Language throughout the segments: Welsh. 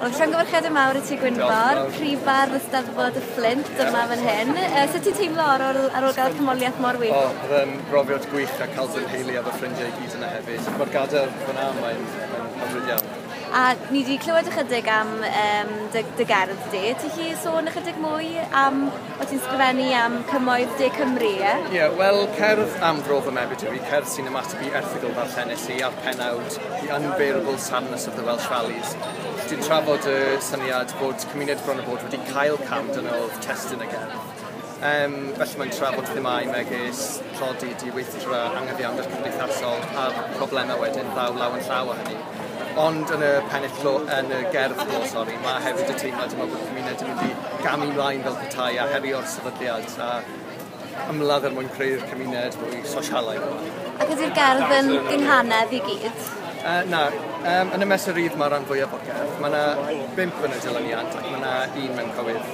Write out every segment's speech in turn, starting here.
O, llongyfarchiadau mawr i ti Gwynfor, prif bardd Eisteddfod y Fflint, dyma fan hyn. Uh, sut ti'n teimlo ar ôl, ar ôl gael cymoliaeth mor wych? O, oedd yn brofiad gwych a cael fy nheulu a fy ffrindiau i gyd yna hefyd. Mae'r gadael fyna mae'n hyfryd iawn. A ni wedi clywed ychydig am um, dy, dy gerdd di. Ti chi sôn ychydig mwy am Wyt ti'n sgrifennu am Cymoedd De Cymru, ie? Ie, wel, cerdd am dro fy mebyd yw hi, cerdd sy'n ymateb i erthygl ddarllenis i a'r pennawd The Unbearable Sadness of the Welsh Valleys. Dwi'n trafod y syniad bod cymuned Bron y Bod wedi cael cam, dyna oedd testyn y gerdd. Um, felly mae'n trafod themau megis tlodi, diweithdra, angyfiawnder cymdeithasol a'r problemau wedyn ddaw law yn llaw â hynny. Ond yn y penillo yn y gerdd do sori ma' hefyd y teimlad dwi me'wl bod y gymuned yn mynd i gamu mlaen fel petai a herio'r sefydliad a ymladd er mwyn creu'r cymuned mwy sosialaidd yma. Ac ydi'r gerdd yn gynghanedd i gyd? Yy na yym yn y mesur rydd ma' ran fwyaf o'r gerdd ma' 'na bump yn y dilyniant ac ma' 'na un mewn cywydd.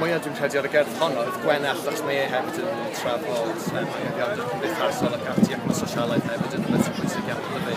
mwya' dwi'n credu ar y gerdd honno oedd Gwenallt achos mae e hefyd yn trafod themâu ag arwydd cymdeithasol ac ati ac ma' sosialaeth hefyd yn rwbeth sy'n bwysig iawn iddo fe.